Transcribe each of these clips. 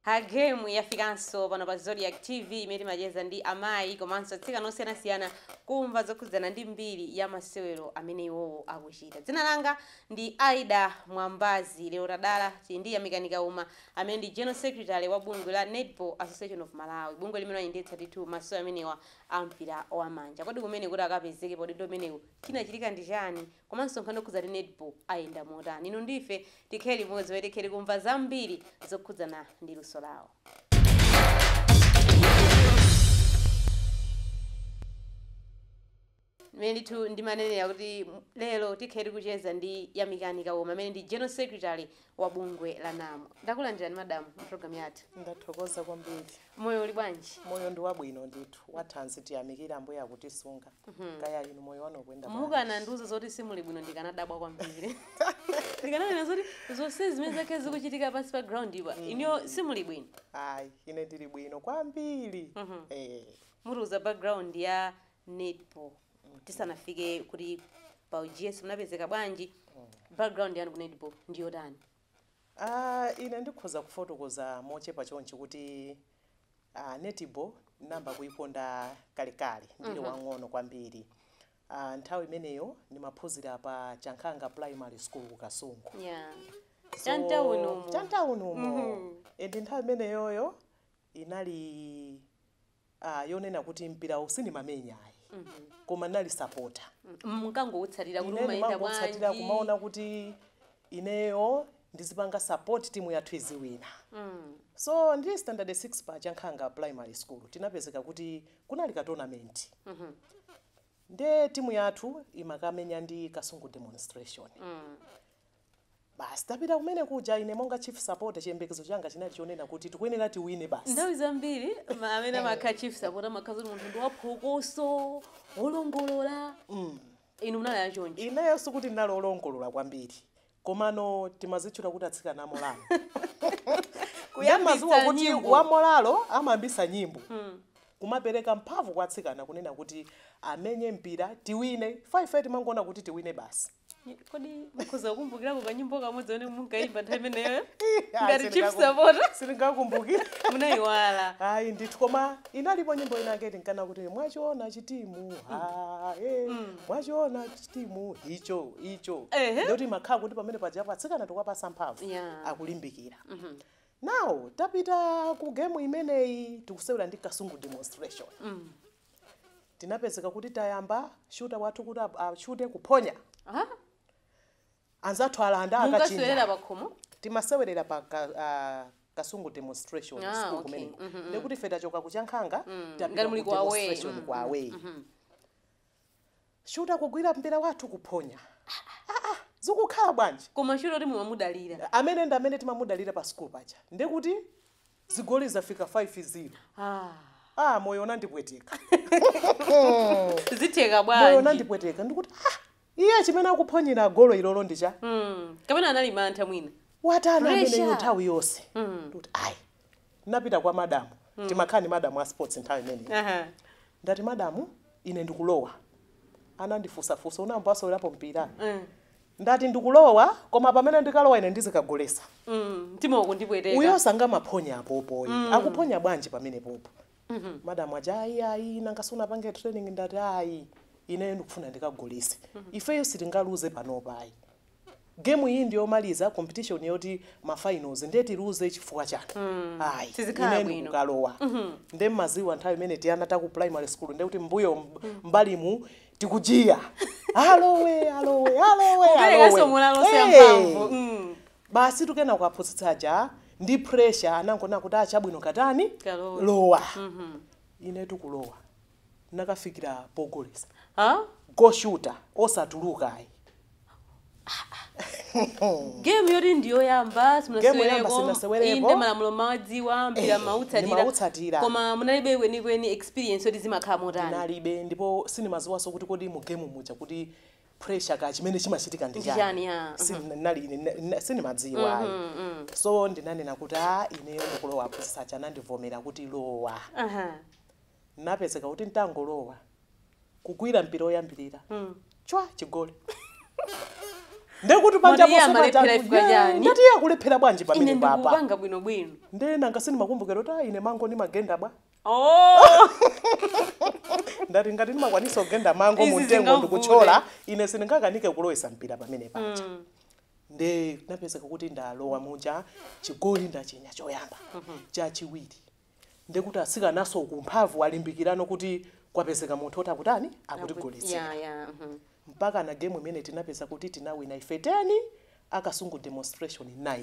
Her Game yafikanso pano pa Zodiac TV imene timacheza ndi amayi komanso atsikana osiyanasiyana kumva zokhudzana ndi mbiri ya masewero amene iwowo akuchita. Dzina langa ndi Aida Mwambazi. Lero tadala tili ndi Yamikani Kauma amene ndi General Secretary wa bungwe la Netball Association of Malawi, bungwe limene limayendetsa ndithu masewero amenewa a mpira wamanja. Kodi kumene kuti akapezeke pa udindo umenewu chinachitika ndi chani? Komanso nkhani zokhudza netball zikuyenda motani? Inu ndi ife tikhale limodzi pomwe tikhale tikumva zambiri zokhudzana ndi luso lawo. Mmene ndithu ndimanenera kuti lero tikhale tikucheza ndi Yamikani Kauma amene ndi General Secretary wa bungwe la NAM. Ndakulandirani madam mu program yathu. Ndathokoza kwambiri. Moyo uli bwanji? Moyo ndi wabwino ndithu, wathanzi tiyamikire ambuye akutisunga, kaya inu moyo wanu ukuyenda bwanji? Mukanandiuza zoti simuli bwino ndikanadabwa kwambiri. Ndikananena zoti zonse zimene zakhala zikuchitika pansi pa ground pa, inuyo simuli bwino. Ayi, ine ndili bwino kwambiri. Eh, Mutiuze background ya netball tisanafike kuti pa uGS munapezeka bwanji? Background yanu ku netball ndi yotani? Aaa ine ndikhoza kufotokoza mochepa chonchi kuti aaa netball ndinayamba kuyikonda kalekale ndili mm -hmm. wang'ono kwambiri aaa nthawi imeneyo ndimaphunzira pa Chankhanga primary school ku Kasungu yeah. so, chamtawuni umo mm -hmm. nthawi imeneyoyo inali ah, yonena kuti mpirawu sindimamenya ayi koma ndinali sapota ndinkangoutsatira kuti mmene umayenda ndimangotsatira bwanji kumaona kuti ineyo ndizipanga support timu yathu iziwina so ndili standard 6 pa chankhanga primary school tinapezeka kuti kunali ka tournament nde timu yathu imakamenya ndi kasungu demonstration Basi tapita kumene kuja, ine monga chief supporter chiyembekezo changa chinali chonena kuti tikuyenera tiwine basi. Nthawi zambiri ma- amene amakhala chief supporter amakhala kuti munthu ndi waphokoso, wolongolola. Inu munali achoncho. Ineyo sikuti ndinali olongolola kwambiri, komano timazitchula kuti atsikana amolalo. Amadziwa kuti nyimbo. wamolalo amayambisa nyimbo kumapereka mphamvu kwa atsikana kunena kuti amenye mpira tiwine faife timangoona kuti tiwine basi kodi mukhoza kukumbukirako kanyimbo kamodzi kamene munkaimba nthawi imeneyo ngati chief supporter sindingakumbukira munayiwala ayi ndithu koma inalipo nyimbo inake tinkanena kuti mwachiona chitimu ha, eh, mwachiona chitimu icho icho Ehe. ndiye timakhala kuti pamene paja atsikana tikuwapatsa mphamvu Yeah. akulimbikira nawo tapita ku gemu imeneyi tikusewera ndi kasungu demonstration tinapezeka kuti tayamba shuta wathu kuti a- ashute kuphonya Aha. anzathu alanda akachinda Mungasewera pakhomo? timasewerera pa ka, ah, kasungu demonstration Ah, school okay. kumeneko ndekuti ife tachoka kuchankhanga Ngati muli ku away. tapita away Shuta kugwira mpira wathu kuphonya. Aaa zikukhala bwanji? Koma shuta woti mumamudalira. Ameneyo ndi amene timamudalira pa school paja ndekuti zigoli zafika 5 zero Aaa. Aaa moyo unandipweteka. Zitheka bwanji? Moyo unandipweteka ndikuti aah iye chimene akuphonyera golo ilolo ndi chani? Hmm kapena anali mantha mwina? Watani ameneyu nthawi yonse ndikuti ayi. Ndinapita kwa madam, timakhala ndi madam a sports nthawi imeneyo. Aha. Ndati madam, ine ndikulowa. Anandifunsa funso, unayamba wasewerapo mpira? Mm. Ndati ndikulowa, koma pamene ndikalowa ine ndizikagolesa. Mm. Mtima ukundipweteka. Uyo sangamaphonya apopo ayi. Akuphonya bwanji pamenepopo? Madam aja ayi ayi nanga sunapange training ndati ayi. Ineyo ndikufuna ndikagolese. Ifeyo sitingaluze panopa ayi. game iyi ndiyomaliza competition yoti ma finals nde tiluze chifukwa chache mm. ayi sizikhala bwino ine ndikukalowa mm -hmm. nde mmaziwa nthawi imene tiana taku primary school nde kuti mbuyo mb- mm. mbalimu tikuchiya alowe alowe alowe kuperekanso moralo alowe Eh, ndi yamphamvu mm. basi tikunena kwa aphunzitsi aja ndi pressure anangona kuti ah chabwino katani Kalowa. lowa ine nkulowa ndinakafikira pogolesa ah? golo shuta osatuluka ayi game yoti ndiyoyamba Game yoyamba simunasewerepo. inde simunasewerepo malamulo mmawadziwa mpira Eh, mmautsatira ndimautsatira. koma munalibe kwenikweni experience yoti zimakhala motani ndinalibe ndipo sindimaziwaso kuti kodi mu game muja kuti pressure kaya chimene chimachitika ndi Ndi chani, chani ya. silinali ine na- na- sindimadziwa ayi so ndinanena kuti a ineyo ndikulowa aphunzitsi aja anandivomera kuti lowa Aha. Ndinapezeka kuti n'tangolowa, kugwira mpira woyambirira, chwa! Chigoli. Ndiye kuti panja Moti iye ponse paja amalephera anthu, chifukwa "Yee, chani? ndati iye akulephera bwanji Ine pamenepa apa? ndikupanga bwinobwino. Ndiye nanga sindimakumbukira kuti, "Ah, ine mango ndimagenda bwa. Oh! Ndati ngati ndimakwanisa kugenda mango Izi mu mtengo sizingavute. ndikuthyola, ine sindingakanike kulowesa mpira pamene paja. Ndiye ndinapezeka kuti ndalowa muja, chigoli ndachinya choyamba, chachiwiri, Ndiye kuti atsikananso aku mphamvu alimbikirano kuti kwapezeka munthu woti akutani? Akutigoletsera. Yeah, yeah. Mm -hmm. Mpakana game imene tinapezeka kuti tinawina ife 10 akasungu demonstration 9.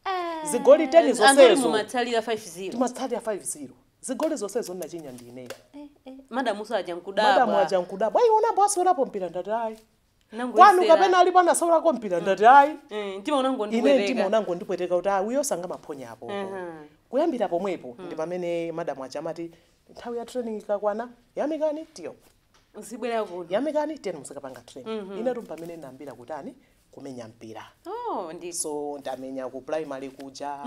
Eh, zigoli 10 zonsezo. Mumatsalira 5-0. Timatsalira 5-0. Zigoli zonsezo ndinachinya ndi ineyo. Eh, eh. Madam ujanso aja nkudabwa. Madam aja nkudabwa. Ayi unayamba wasewerapo mpira ndati ayi. Nangoyesera. Kwanu kapena alipo anasawulako mpira ndati ayi Eh, mtima ine mtima unangondipweteka unangondipweteka kuti ayi uyo osangamaphonya apo Mhm. kuyambira pomwepo ndi pamene madamu aja amati nthawi ya training ikakwana yamikani tiyo uzibwera kuno yamikani tiyeni muzikapanga training ine ndi pamene ndinayambira kutani kumenya mpira oh ndi so ndamenya ku primary kuja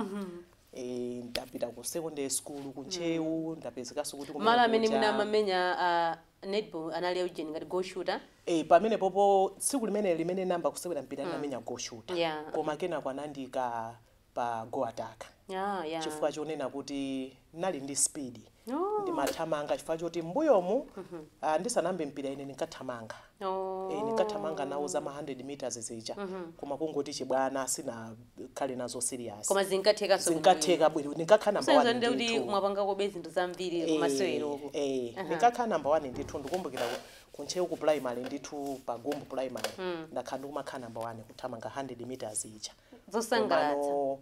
eh, ndapita ku secondary school ku ntcheu ndapezekanso kuti kumene malo amene kuja. mwina amamenya ah, Netball unali ujeni ngati goal shooter. Eh pamenepopo tsiku limeneli limene ndinayamba kusewera mpira ndinamenya goal shooter Yeah. koma kenako anandiika pa goal attack Ah, yeah. chifukwa chonena kuti ndinali ndi speed Oh. ndimathamanga chifukwa choti m'mbuyomu ah, ndisanayambe mpira ine ndinkathamanga Oh. Eh, ndinkathamanga nawo zama 100 meters zija koma kungoti chibwana sina khale nazo serious. Koma zinkathekanso bwino bwino. Zinkatheka bwino ndinkakhala number one Kusonyeza kuti ndithu. mwapangakobe zinthu zambiri kumaseweroko. Eh, eh, Aha. ndinkakhala number one ndithu ndikumbukira ku- ku Ntcheu ku primary ndithu pa Gumbu primary Mm. ndakhala ndikumakhala number one kuthamanga 100 meters ija. Zosangalatsa. Komano,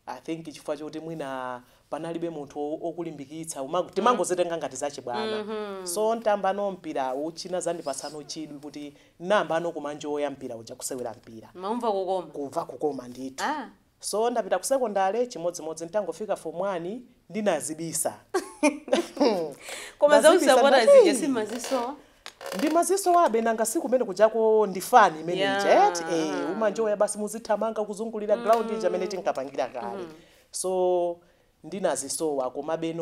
I think chifukwa choti mwina panalibe munthu wokulimbikitsa uma- timangozitenga ngati zachibwana so tsopano mpirawu chinazandipatsa chidwi kuti ndiyambeno kumanjoya mpira uja kusewera mpira Mmaumva kukoma. kumva kukoma ndithu Ah. so ndapita ku sekondale chimodzimodzi nditangofika form 1 ndinazibisa Koma za Ndazibisa usapota ndati, zija "Hey, simazisowa. ndimazisowabe nanga si kumene kujako ndi fani imene Yeah. ija eti eh, umanjoya basi muzithamanga kuzungulira ground ija mmene tinkapangira kale So ndinazisowa komabe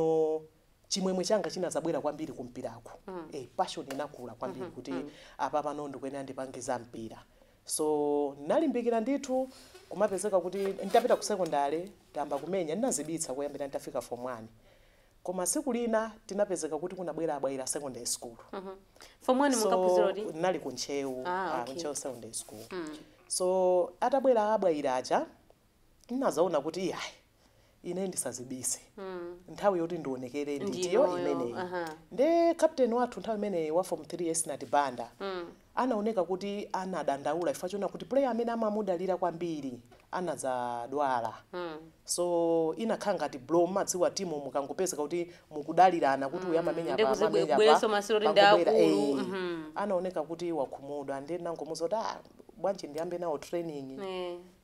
chimwemwe changa chinazabwera kwambiri ku mpiraku. Mm. Eh, passion inakula kwambiri mm -hmm. kuti mm. apapa ndikuyenera ndipange za mpira. So ndinalimbikira ndithu kumapezeka kuti nditapita ku secondary ndisanayambe kumenya ndinazibisa kuyambira nditafika form 1. Koma siku lina tinapezeka kuti kunabwera a Bwaila secondary school. Mm -hmm. Form 1 so, munkaphunzira kuti? Ndinali ku Ntcheu, ah, ah okay. Ntcheu secondary school. Mm. So atabwera a Bwaila aja ndinazaona kuti iyayi ine ndisazibise nthawi yoti ndionekere Ndi nditiyo iyo, imeneyi aha. nde captain wathu nthawi imeneyo wa form 3 Esinati Banda anaoneka kuti anadandaula chifukwa chonena kuti player amene amamudalira kwambiri anadzadwala so inakhala ngati blow mmadziwa timu mukangopezeka kuti mukudalirana kuti uyu amamenya Ndi apa, amamenya apa, kuzibwereso masiro kuti ndi pangobwera, akulu, eh, anaoneka kuti wakhumudwa nde ndinangomuuza kuti ah, bwanji ndiyambe nawo training Eh.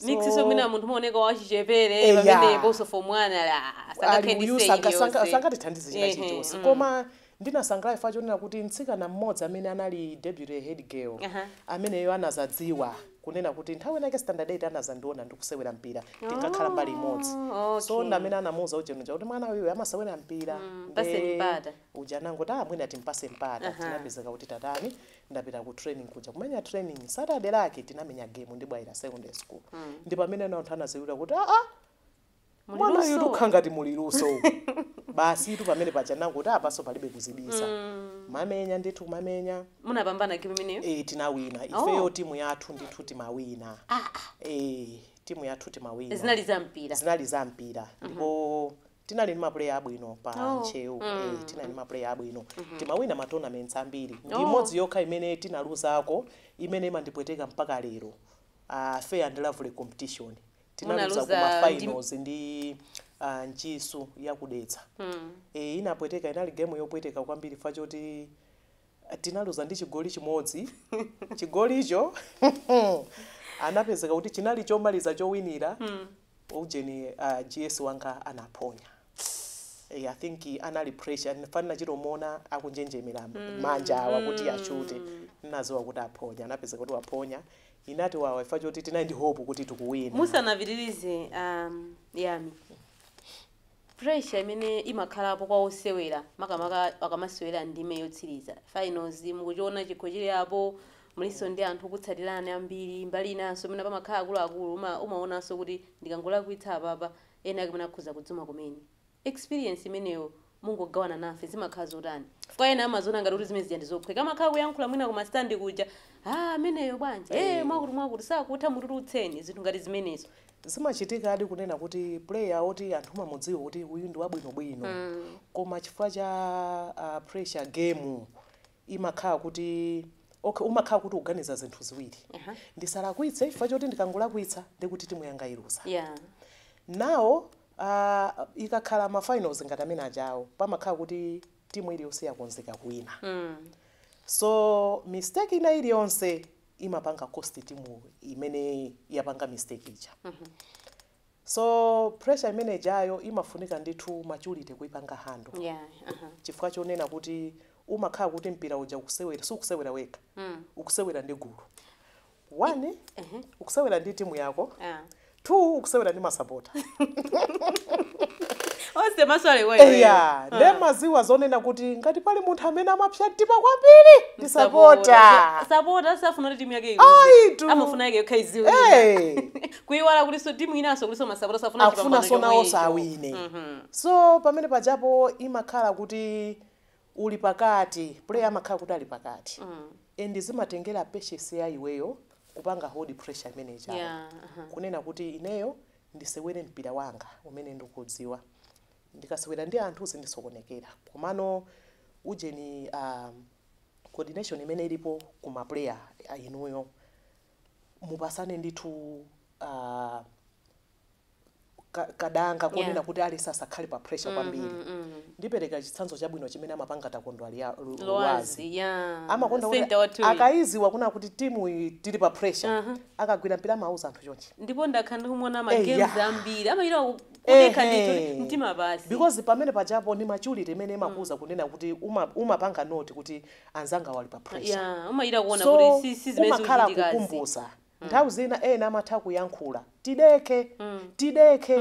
mix so mwina munthu umaoneka wachichepere eh, pamenepo so form 1 ali ah, sangathe ndi uyu stage yonse sangatithandize china chilichonse mm. koma ndinasangalala chifukwa chonena kuti mtsikana mmodzi amene anali deputy head girl uh -huh. ameneyo anazadziwa kunena kuti nthawi inake standard 8 anazandiona ndikusewera mpira tinkakhala oh, mbali imodzi okay. so ndi amene anamuuza ujenuja kuti mwana uyu amasewera mpira mm, uja anangoti amwene ah, timpatse mpata uh -huh. tinapezeka kuti tatani ndapita ku training kuja kumenya training, saturday lake tinamenya game ndi bwaira secondary school mm. ndi pamene ana anthu anaziwira kuti aa ah, ah, mwana uyu tukha ngati muli luso basi tu pamene paja nanga kuti apanso ah, palibe kuzibisa mm. mamenya ndithu kumamenya munapambana game imeneyo eh tinawina ifeyo oh. timu yathu ndithu timawina ah, ah. eh timu yathu timawina zinali za mpira zinali za mpira mm -hmm. ndipo Tinali ndi ma player abwino pa Oh. Ntcheu. Mm. Eh, tinali ndi ma player abwino. Timawina ma tournaments ambiri. Ndi Oh. imodzi yokha imene tinaluzako imene imandipweteka mpaka lero. Ah, fair and lovely competition. Tinaluza ku Munaluza ma ndi- finals ndi ah, Ntchisi yakudetsa. Mm. Eh, inapweteka inali game yopweteka kwambiri fa choti Tinaluza ndi chigoli chimodzi. Chigolicho anapezeka kuti chinali chomaliza chowinira ujeni a GS wanga anaphonya. Eh, I think anali pressure chifana nachitomuona akunjenjemera manja awa kuti achute nadziwa kuti aphonya anapezeka kuti waphonya inatiwawa chifa choti tinali ndi hope kuti tikuwina. Musanapitirize um, yami pressure imene imakhalapo kwa osewera makamaka akamasewera ndime yotsiriza, finals, mukuchiona chikho chili apo, mulinso ndi anthu okutsatirani ambiri, mbali inanso mwina pamakhala akuluakulu uma umaonanso kuti ndikangolakwitsa apapa ena ake mwina akhoza kudzuma kumene, experience imeneyo mungogawana nafe zimakhala zotani? chifukwa ena amaziona ngati kuti zimene zija ndizophweka amakhala kuyankhula mwina ku ma stand kuja, aah ameneyo bwanji, ee mwakuti mwakuti sakutha mutulutseni, zinthu ngati zimenezo. Zimachitikadi kunena kuti player oti anthu amamudziwa kuti uyu ndi wabwino bwino koma chifukwa cha pressure game imakhala kuti okay umakhala kuti ukuganiza zinthu ziwiri. Ndisalakwitse chifukwa choti ndikangolakwitsa ndiye kuti timu yanga iluza. Yeah. Now ah, ikakhala ma finals ngati amene ajawo pamakhala kuti timu iliyonse yakonzeka kuwina. So mistake ina iliyonse imapanga cost team imene yapanga mistake ija mm -hmm. so pressure imene ijayo imafunika ndithu maturity kuipanga handle yeah. uh -huh. chifukwa chonena kuti umakhala kuti mpira uja ukusewera si ukusewera wekha mm. ukusewera ndi gulu one uh -huh. ukusewera ndi timu yako uh ah. -huh. 2 ukusewera ndi masapota onse maso ali kwa iweyo. eya Ah. nde mudziwa zonena kuti ngati pali munthu amene amapsa mtima kwambiri ndi Sapota. sapota sapota safuna kuti timu yake Ayi, iwine tu. amafuna yake yokha iwine Eh. kuiwala kulinso timu inanso kulinso masapota safuna akufuna chipambano zoona chomwecho. onse awine Mhm. so pamene pajapo imakhala kuti uli pakati player amakhala kuti ali pakati and zimatengera patience ya iweyo kupanga hold pressure imene ijayo Yeah, aha. kunena kuti ineyo ndisewere mpira wanga umene ndikudziwa ndikasewera ndi anthu zindisokonekera komano ujeni um, coordination imene ilipo ku maplayer a inuyo mupasane ndithu uh, ka, kadanga kunena yeah kuti aliyense asakhale pa pressure mm kwambiri -hmm, mm -hmm. ndipereka chitsanzo chabwino chimene amapanga takondwa lia- lu- luwazi loazi yeah amakonda kuti senta wathuyi akayiziwa kuna kuti timu iyi tili pa pressure aha akagwira mpira amauza anthu chonchi ndipo ndakhala ndikumuona ma games eya ambiri amachita ku- kudekha ndithu ndi ehe mtima basi because pamene pajapo ni maturity imene mm. imakuuza kunena kuti uma- umapanga note kuti anzangawa ali pa pressure yeah umachita kuona kuti so si si zimene umakhala zikuchitikazi kukumbutsa Nthawi zina ena amatha kuyankhula. Tidekhe. Tidekhe.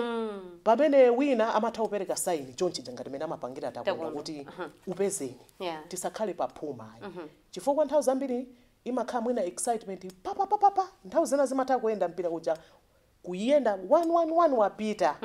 Pamene wina amatha kupereka sign chonchija ngati mmene amapangira Takondwa Takondwa. kuti upezeni. Yeah. Tisakhale pa phuma ayi. Chifukwa nthawi zambiri imakhala mwina excitement pa pa pa pa pa. Nthawi zina zimatha kuyenda mpira uja kuyenda one one one wapita.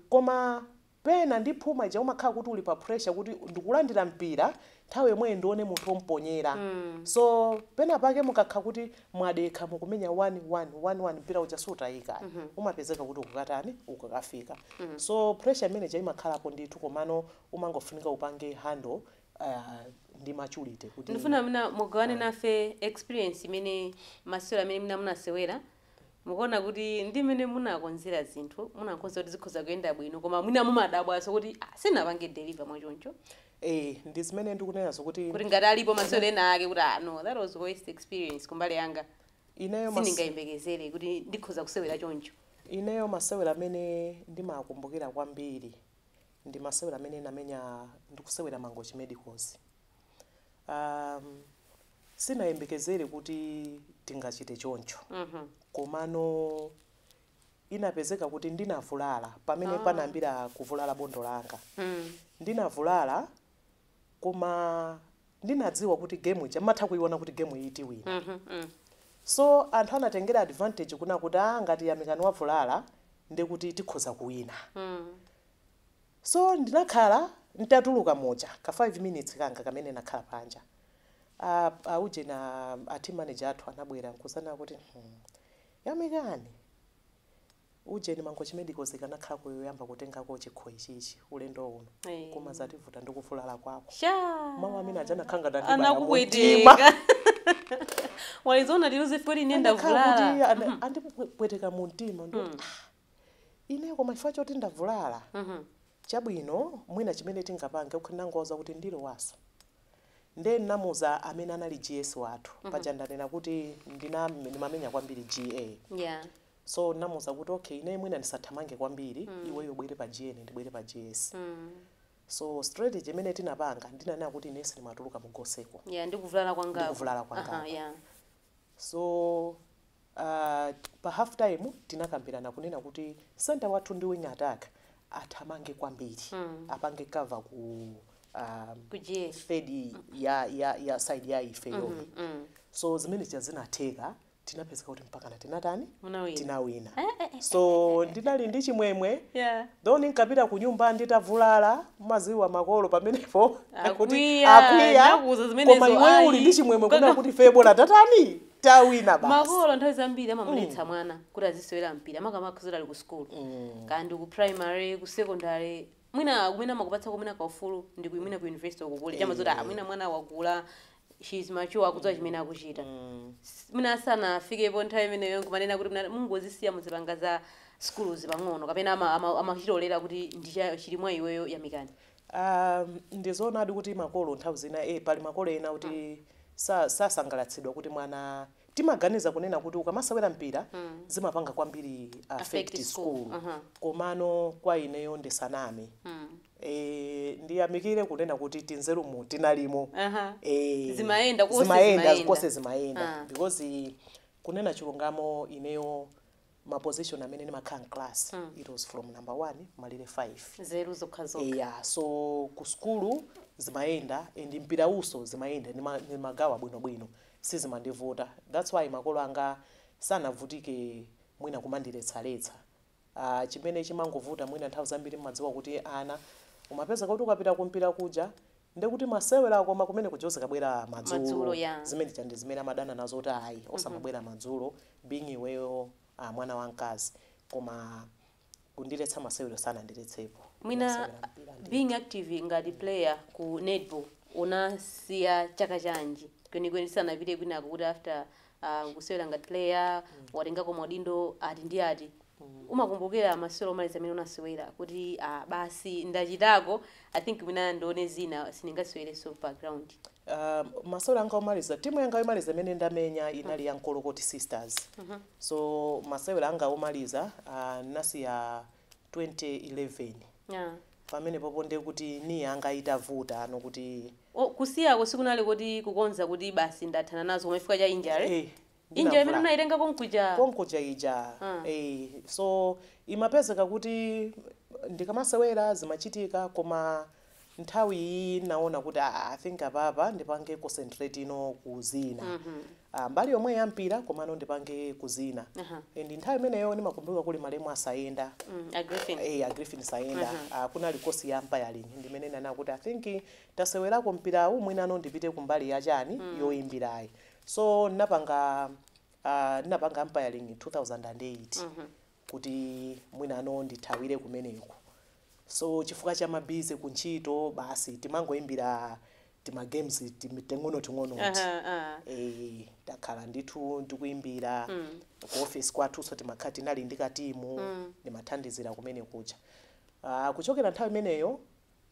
Koma Pena ndi phuma ija umakhala kuti uli pa pressure kuti ndikulandira mpira nthawi yomweyi ndione munthu omponyera so pena pake mukakhala kuti mwadekha mukumenya 1 1 1 1 mpira uja sutaika ayi umapezeka kuti ukukatani ukukafika so pressure imene ija imakhalapo ndithu komano umangofunika upange handle ndi maturity kuti. Ndifuna mwina mugawane nafe experience imene masewero amene mwina munasewera Mukuona kuti ndi mmene munakonzera zinthu, munakonza kuti zikhoza kuyenda bwino koma mwina mumadabwanso kuti ah, sindinapange deliver mwachoncho. Eh, ndi zimene ndikunenazo kuti Kuti ngati alipo masewero enaake kuti ah no, that was worst experience kumbali yanga. ineyo mas- Sindingayembekezere kuti ndikhoza kusewera choncho. ineyo masewero amene ndimakumbukira kwambiri ndi masewero amene ndinamenya ndikusewera Mangochi Medicals. um, sinayembekezere kuti tingachite choncho komano inapezeka kuti ndinavulala pamene panayambira kuvulala bondo langa ndinavulala koma ndinadziwa kuti game ija umatha kuiona kuti game iyi tiwina so anthu anatengera advantage kunena kuti ah ngati Yamikani wavulala ndekuti tikhoza kuwina So ndinakhala nditatuluka muja ka 5 minutes kanga kamene nakhala panja a a ujeni a a team manager athu anabwera nkuzanena kuti hmm Yamikani ujeni Mangochi Medicals ikanakhalako yoyamba kutengako chikho ichichi ulendo uno Eh. koma zativuta ndi kuvulala kwako Shaa. mawu amene aja anakhala ngati andibaya mumtima. anakupweteka walizoona lero zifukwa line Anakhala ndavulala kuti ana- andipweteka mumtima ndikuti Ine koma chifukwa choti ndavulala, chabwino mwina chimene tingapange, okay ndinangowauza kuti ndilowaso. Nde ndinamuuza amene ali GS wathu, paja ndanena kuti ndimamenya kwambiri GA. So ndinamuuza kuti okay ineyo mwina ndisathamange kwambiri, iweyo ubwere pa GA ine ndibwere pa GS. So strategy imene tinapanga, ndinanena kuti ineyo sindimatuluka mu goseko. Ndi kuvulala kwangaku. So uh, pa half time tinakambirana kunena kuti center wathu ndi wing attack athamange kwambiri mm. apange cover ku um, third ya, ya, ya side ya ifeyo mm -hmm, mm. so zimene zija zinatheka tinapezeka kuti mpakana tinatani tinawina eh, eh, eh, so ndinali ndi chimwemwe yeah. Though ndinkapita kunyumba nditavulala, mumadziwa makolo pamenepo akuti Akwiya, akwiya, ndinakuuza koma zimenezo, iweyo uli ayi. ndi chimwemwe kunena kuti ifeyo bola tatani? Tawina basi. makolo nthawi zambiri amamuletsa mwana kuti azisewera mpira makamaka zoti ali ku sukulu kaya ndi ku primary ku secondary mwina kumene amakupatsa kumene kaufulu ndi ku- mwina ku university uko kuli chama zoti ah, mwina mwana wakula she is mature akudziwa chimene akuchita Mm. S- mwina asanafikepo nthawi imeneyo nkumanena kuti mwina mungozisiya muzipanga za skuluzi pang'ono kapena ama- ama- amachitolera kuti chili mwa iweyo yamikani Ah, ndizoonadi kuti makolo nthawi zina eh, pali makolo ena kuti sa- sasangalatsidwa kuti mwana timaganiza kunena kuti ukamasewera mpira zimapanga kwambiri affect Affect school. school Aha. komano kwa ineyo ndisaname Mm. Eee ndiyamikile kunena kuti tinzerumu tinalimo Aha. Eee Zimayenda, konse zimayenda zimayenda. konse zimayenda Ah. because kunena chilungamo ineyo ma position amene ndimakhala mclass it was from number 1 malire 5 Nzeru zokha zokha. eya so ku sukulu zimayenda and mpirawunso zimayenda ndima- ndimagawa bwinobwino sizimandivuta thats why makolo anga sanavutike mwina kumandiletsaletsa Aaa chimene chimangovuta mwina nthawi zambiri mmadziwa kuti ana umapezeka kuti ukapita kumpira kuja ndikuti masewero koma kumene kuja uzikabwera madzulo madzulo yaa zimene zija ndi zimene amadana nazo kuti ayi mhm osamabwera madzulo being iweyo a mwana wamkazi koma kundiletsa masewero sanandiletsepo mwina unasewera mpira being ndithu active ngati mm player ku netball unasiya chaka chanji kwenikweni tisanapite kwinako kuti after uh, ukusewera ngati player mm. watengako maudindo ati ndi ati mm. umakumbukira masewero omaliza amene unasewera kuti uh, basi ndachitako i think mwina ndione zina sindingasewerenso background Uh, masewero anga omaliza timu yanga yomaliza imene ndamenya inali ya Nkolokoti Sisters. Mm -hmm. So masewero anga omaliza uh, nasiya uh, 2011 Yeah. pamenepopo ndiye kuti knee yanga itavuta nanena kuti O, kusiyako sikunali kuti kukonda kuti basi ndathana nazo koma chifukwa cha injury eh, injury ndinavula. Munayitenga konkuja konkuja ija Ah. eh, so imapezeka kuti ndikamasewera zimachitika koma nthawi iyi ndinaona kuti aa i think apapa ndipange concentrate no ku zina Ah, mbali yomwe ya mpira komano ndipange ku zina Aha. ndi nthawi imeneyo ndimakumbuka kuli malemu a Saenda Mm, a Griffin. Eh, a Griffin Saenda Ah, kunali kosi ya umpiring ndi mmene ndinanena kuti i think tasewerako mpirawu mwinano ndipite kumbali ya chani yoyimbirayi so ndinapanga ah, ndinapanga umpiring 2008 kuti mwinano ndithawire kumeneko so chifukwa cha ma busy ku ntchito basi timangoimbira tima games ting'onoting'onoti uh -huh, uh. e, takhala ndithu tikuimbira mm. ku office kwathunso timakhala tinali ndi katimu mm. ndimathandizira kumene kuja uh, kuchokera nthawi imeneyo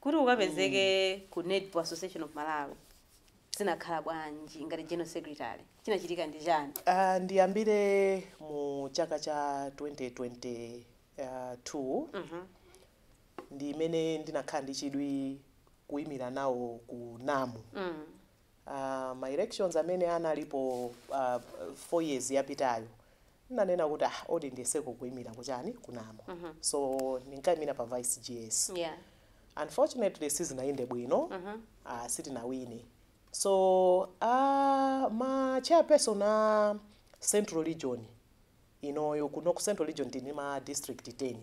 Kuti ukapezeke ku Netball Association of Malawi zinakhala bwanji ngati General Secretary? Chinachitika ndi chani? Ndiyambire mu chaka cha 2022 ndi mmene ndinakhala ndi chidwi kuimira nawo ku NAM. Ma elections amene analipo 4 years yapitayo ndinanena kuti ah odi ndiyeseko kuimira ku chani ku NAM so ndinkaimira pa vice GS unfortunately sizinayende bwino sitinawine so ma chairperson a central region inoyo kuno ku central region tili ndi ma district 10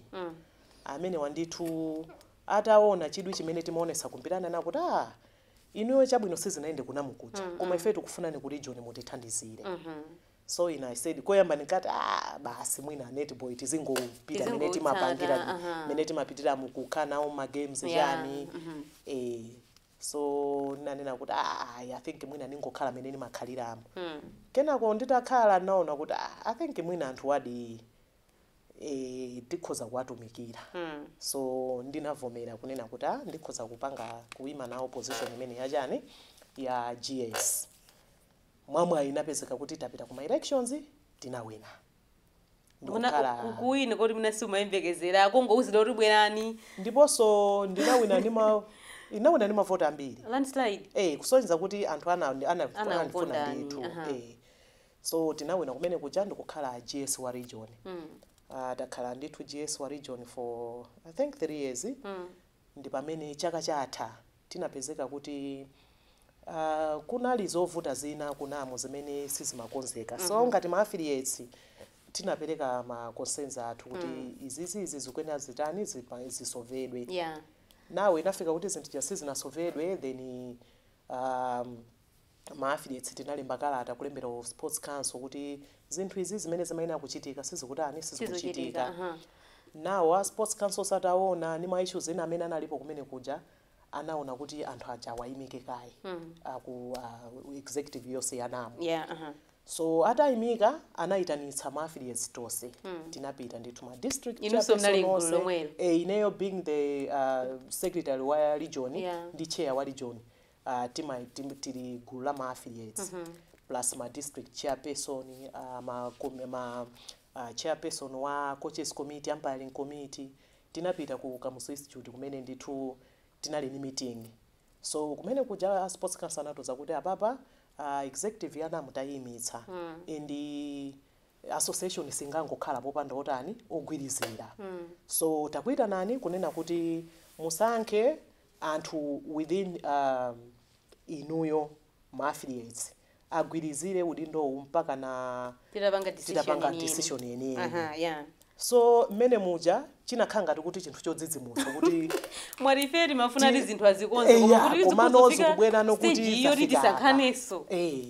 amenewa ndithu ataona chidwi chimene timaonetsa ku mpira ananena kuti ah inuyo chabwino sizinayende ku NAM kuja koma ife tikufunani ku region mutithandizire so ine i said koyamba ndinkati ah basi mwina netball tizingopita mene timapangira Tizingotsata, aha. mene timapitira n'kukhala nawo ma games Yeah, chani eh so ndinanena kuti ah ayi, i think mwina ndingokhala mene ndimakhaliramo kenako nditakhala naona kuti ah, i think mwina anthuwadi eh, tikhoza kuwatumikira so ndinavomera kunena kuti ah, ndikhoza kupanga kuima nawo position imene yachani ya gs mwamwayi inapezeka kuti tapita kuma elections tinawina Ndikukhala- kuwina koti mwina sumayembekezera kungouzidwa kuti bwerani ndiponso ndinawina ndi ma inawina ndi mavoti ambiri landslide Eh, kusonyeza kuti anthu ana- ana- Anakukondani, anandifuna ndithu aha. Eh, So tinawina kumene kuja ndikukhala GS wa region. Takhala ndithu GS wa region for I think 3 years. Ndipamene chaka chatha tinapezeka kuti kunali zovuta zina ku NAM zimene sizimakonzeka. So ngati ma affiliates tinapeleka ma concerns athu kuti izizi izi zikuyenera zitani zisovedwe. Nawo inafika kuti zinthu zija sizinasovedwe then Ma affiliates tinalemba kalata kulembera a sports council kuti zinthu izi zimene zimayenera kuchitika sizikutani sizikuchitika uh-huh. nawo a sports council ataona ni ma issues ena amene analipo kumene kuja anaona kuti anthu aja awayimike kaye hmm. aku uh, executive yonse ya NAM yeah, uh -huh. so atayimika anayitanitsa ma affiliates tonse hmm. tinapita ndithu ma district e, ineyo being the uh, secretary wa region yeah. ndi chair wa region uh, tima, tim, tili gulu la ma affiliates mm -hmm. plus ma district chairperson uh, ma, ma uh, chairperson wa coaches committee umpiring committee tinapita ku Kamuzu Institute kumene ndithu tinali ni meeting so kumene kuja a sports council anatiuza kuti apapa uh, executive ya NAM tayimitsa mm. and association singangokhala popanda otani ogwirizira mm. so takuitanani kunena kuti musankhe anthu within inuyo ma affiliates agwirizire udindowu mpakana titapanga decision yeniyeni so mmene muja chinakhala ngati kuti chinthu chodzidzimutsa kuti mwati ife timafuna ati zinthu azikonze koma kuti tizikonza kufika stage iyo tisankhanenso eh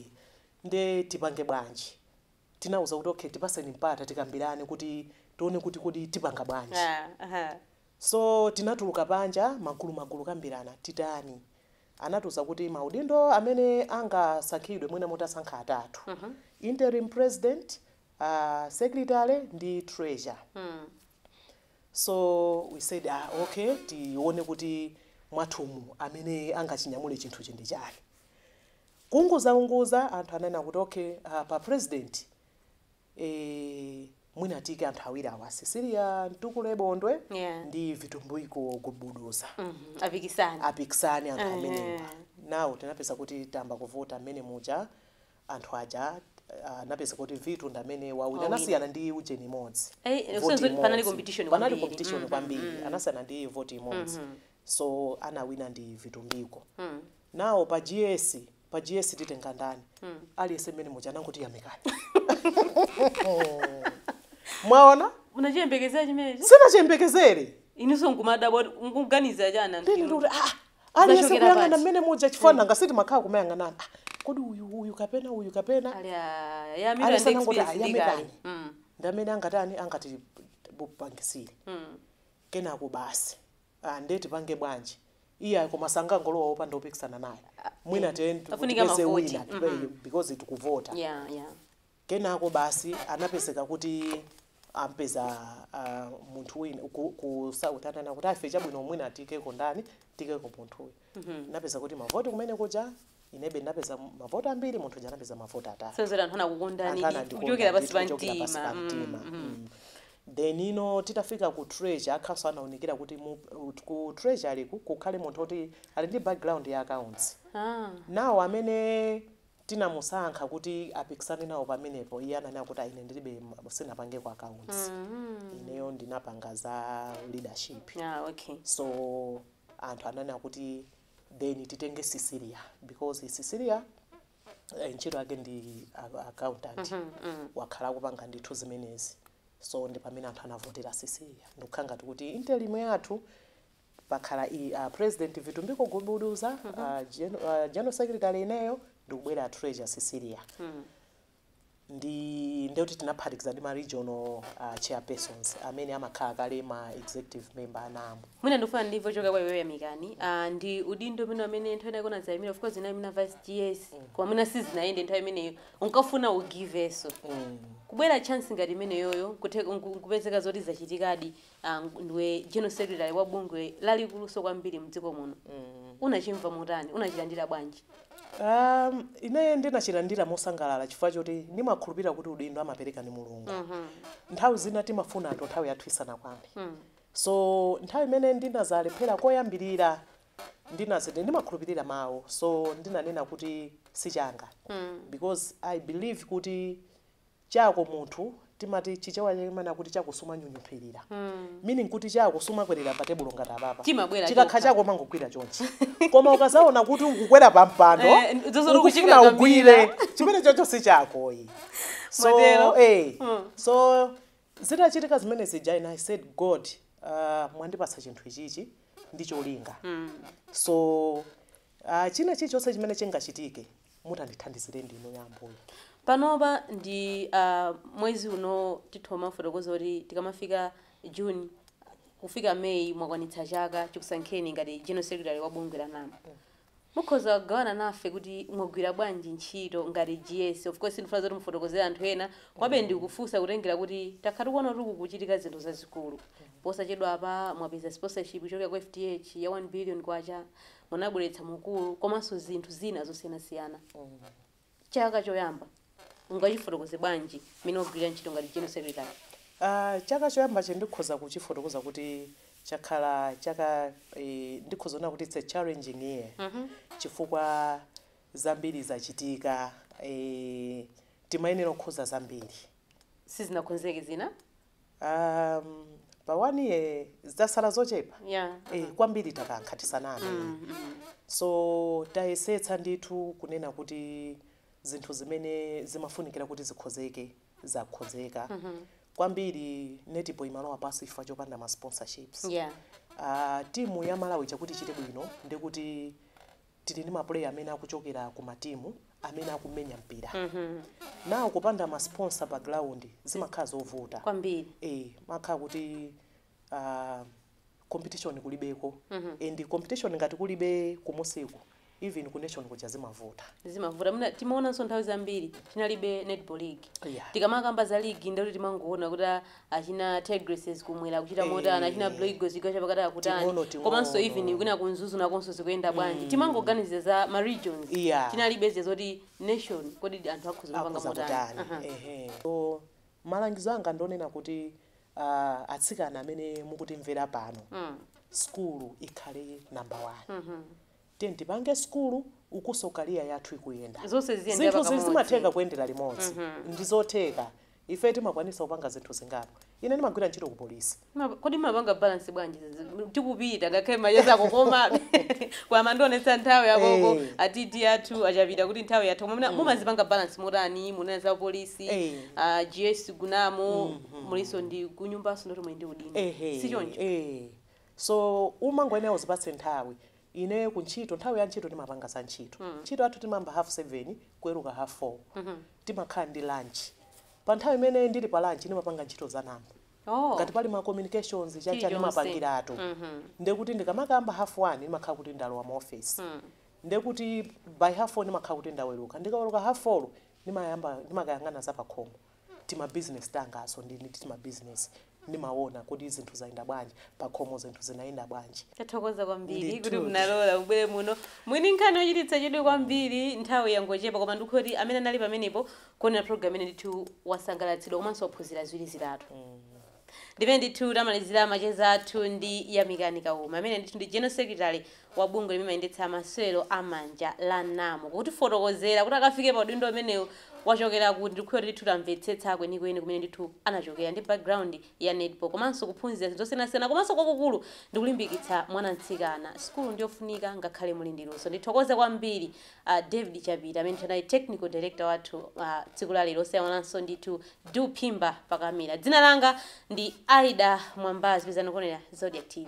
nde tipange bwanji tinawauza kuti okay tipaseni mpata tikambirane kuti tione kuti kodi tipanga bwanji yeah, uh -huh. So tinatuluka panja magulumagulu kambirana titani anatiuza kuti maudindo amene angasankhidwe mwina mutasankha atatu interim president a secretary ndi treasurer so we said ah okay tione kuti mwathumu amene angachinyamule chinthuchi nde ndani kuunguzaunguza anthu ananena kuti okay ah, pa president Eee mwina tiyike anthu awiri awa Cecilia Mtukule Bondwe yeah. ndi Vitumbiko Gubuduza mm -hmm. apikisane apikisane anthu uh -huh. amenewa nawo tinapeza kuti tamba kuvota mmene muja anthu aja anapeza ah, kuti Vitu ndamene wawina anasiyana ndi ujeni imodzi eh, panali competition panali competition mm-hmm, kwambiri mm-hmm. anasiyana ndi voti imodzi mm-hmm. so anawina ndi Vitumbiko nawo pa GS pa GS titenga ndani aliyense mmene muja anangoti yamikani mwaona munachiyembekezera chimenecho sinachiyembekezere inuso nkumadabwa nkuganiza chani anthu ndini inu? ndikuti ah aliyense Zachokera kuyang'ana pansi. mmene muja chifukwa nanga sitimakhala kumayang'anana ah, kodi uyu uyu kapena uyu kapena Ali a- ya Milan Aliyense anangoti experience ndi a Yamikani. kale. Mm, ndi amene angatani angati tipangisire mm. kenako basi aah nde tipange bwanji iyayi koma sangangolowa opanda opikisana naye mwina tiye tipeze wina tipeyo because tikuvota kenako basi anapezeka kuti ampeza munthu wina ku south ananena kuti ife chabwino mwina tiikeko ndani tiikeko munthuyu. ndinapeza kuti mavoti kumene kuja inebe ndinapeza mavoti ambiri munthu uja anapeza mavoti atatu sezoti anthu anakukondani anthu anandikonda kuchokera ndithu pansi pa kuchokera pansi pa mtima mtima Mm, mm. Mm. then ino titafika ku treasurer kukhalanso anaunikira kuti mu- ku treasury ku kukhale munthu oti ali ndi background ya accounts Ah. ndiye amene tinamusankha kuti apikisane nawo pamenepo iye ananena kuti ah ine ndilibe m- sindinapange ku accounts Mm. ineyo ndinapanga za leadership Ah, okay so anthu ananena kuti then titenge Cecilia because Cecilia eh, ntchito yake ndi a- accountant wakhala akupanga ndithu zimenezi so ndi pamene anthu anavotera Cecilia ndikukhala ngati kuti interim yathu pakhala i uh, president Vitumbiko Gubuduza uh, gen, uh, general secretary ineyo ndikubwera a treasurer Cecilia ndi ndiye kuti tinaphatikiza ndi ma regional uh, chairpersons amene amakhala kale ma executive member anamo mwina ndikufuna ndimve kuchokera kwa iweyo Yamikani ah, ndi udindo umene amene nthawi inayake unadzayimira of course unayimira vice gs koma mwina sizinayende nthawi imeneyo unkafuna ugivenso mm. kubwera chance ngati imeneyoyo kuthe- nku- nkupezeka zoti zachitikadi a ndiwe general secretary wa bungwe lalikuluso kwambiri mdziko muno unachimva motani unachilandira bwanji Um, ine ndinachilandira mosangalala chifukwa choti ndimakhulupirira kuti udindo amapereka ndi mulungu nthawi zina timafuna zinthu nthawi yathu isanakwane so nthawi imene ndinazalephera koyambirira ndinaziti ndimakhulupirira mawu so ndinanena kuti sichanga because i believe kuti chako munthu timati chichewa chake amanena kuti chako sumanyunyuphirira mm. meaning kuti chako sumakwerera pa tebulo ngati apapa chikakhala chako umangogwira chonchi koma ukazaona kuti ukukwera pa mpando eh, ukufuna ugwire chimenechocho si chako ayi so Matero. eh mm. so zitachitika zimene zija and i said god uh, mwandipatsa chinthu ichichi ndi cholinga mm. so uh, china chilichonse chimene chingachitike Panopa ndi mwezi uno titha kufotokoza kuti tikamafika June kufika May mwakwanitsa chaka chikusankheni ngati General Secretary wa bungwe la NAM. Mukhoza kugawana nafe kuti mwagwira bwanji ntchito ngati GS. Of course sindikufuna zoti mufotokozere anthu ena komabe ndikufunsa kutengera kuti takhala tikuona kuti kukuchitika zinthu zazikulu. Posachedwapa mwapeza sponsorship kuchokera ku FDH ya K1 billion. munabweretsa mukulu komanso zinthu zina zosiyanasiyana chaka choyamba mungachifotokoze bwanji mmene mwagwirira ntchito ngati general secretary? Uh, chaka choyamba chi ndikhoza kuchifotokoza kuti chakhala chaka eh, ndikhoza kunena kuti it's a challenging year mm -hmm. chifukwa zambiri zachitika eh, timayenera kukonza zambiri sizinakonzeke zina Um, pa one year zitasala zochepa yeah. eh, kwambiri takankha tisaname mm -hmm. so tayesetsa ndithu kunena kuti zinthu zimene zimafunikira kuti zikonzeke zakonzeka mm -hmm. kwambiri netball imalowa pansi chifukwa chopanda ma sponsorships yeah. uh, timu ya malawi chakuti chite bwino ndikuti tili ndi ma player amene akuchokera ku ma team amene akumenya mpira mm -hmm. now kupanda ma sponsor pa ground zimakhala zovuta kwambiri eh kumakhala kuti uh, competition kulibeko mm -hmm. and competition ngati kulibe kumusiko even ku nation kuja zimavuta zimavuta mm timaonanso nthawi zambiri tinalibe netball league yeah. tikamakamba za league ndikuti timangoona kuti achina Tigresses kumwera akuchita motani achina Eh. Blue Eagles chigawo chapakati akutani Ting'ono, ting'ono. komanso even kwina ku Mzuzu nakonso zikuyenda bwanji timangoganiza za ma regions Yeah. tinalibe zija zoti nation kodi anthu akhoza kupanga akhoza motani kutani Aha. ehe so malangizo anga ndonena kuti ah, atsikana amene mukutimvera pano Mm. sukulu ikhale namba 1 Tiyeni tipange sukulu ukunso career yathu ikuyenda. Zonse ziziyendera Zinthuzi pakamodzi. zimatheka kuyendera limodzi. Ndizotheka. Ife timakwanisa kupanga zinthu zingapo. Ine ndimagwira ntchito ku police. Ma- Kodi mumapanga balance bwanji zizi- tikupita ngakhale macheza akukomabe koma mandionetsa nthawi yakoko Eh. atiti athu achapita kuti nthawi yathu koma muna- mumazipanga balance motani munena za polisi Eh. ah, GS ku NAM mulinso ndi kunyumbanso nkuti muli ndi udindo Ehe. si choncho Eh. So umangoyenera uzipatse nthawi. Ineyo ku ntchito, nthawi ya ntchito ndimapanga za ntchito. Ntchito yathu timayamba hafu seveni, kuweruka hafu four. Timakhala ndi lanchi. Pa nthawi imene ndili pa lanchi ndimapanga ntchito za NAM. Oh. Ngati pali ma communications, chani chani Chilichonse. ndimapangiratu. Ndiye kuti ndikamakayamba hafu wani ndimakhala kuti ndalowa mu ofesi. Ndiye kuti by hafu four ndimakhala kuti ndaweruka. Ndikaweruka hafu folo ndimayamba, ndimakayang'ana za pakhomo. tima business tanganso ndili ndi tima business ndimawona kuti zinthu zayenda bwanji pakhomo zinthu zinayenda bwanji. Tathokoza kwambiri kuti munalola mubwere muno. Mwini nkhani yochititsa chidwi kwambiri nthawi yangochepa koma ndikukhulupirira kuti amene anali pamenepo kuonera program imeneyi ndithu wasangalatsidwa komanso waphunzira ziwiri zitatu. Ndimene ndithu tamalizira macheza athu ndi Yamikani Kauma amene ndithu ndi General Secretary wa bungwe limene limayendetsa masewero a manja la NAM kutifotokozera kuti akafike pa udindo umenewu wachokera kuti. Ndikukhulupirira kuti ndithu tamvetsetsa kwenikweni kumene ndithu anachokera ndi background ya netball komanso kuphunzira zinthu zosiyanasiyana komanso kwakukulu ndikulimbikitsa mwana mtsikana. Sukulu ndiyofunika ngakhale muli ndi luso. Ndithokoze kwambiri A David Chabira amene ndithu anali technical director wathu a tsiku la lero osayiwalanso ndithu Du Phimba pa kamera. Dzina langa ndi Aida Mwambazi pitirizani kuonera Zodiak TV.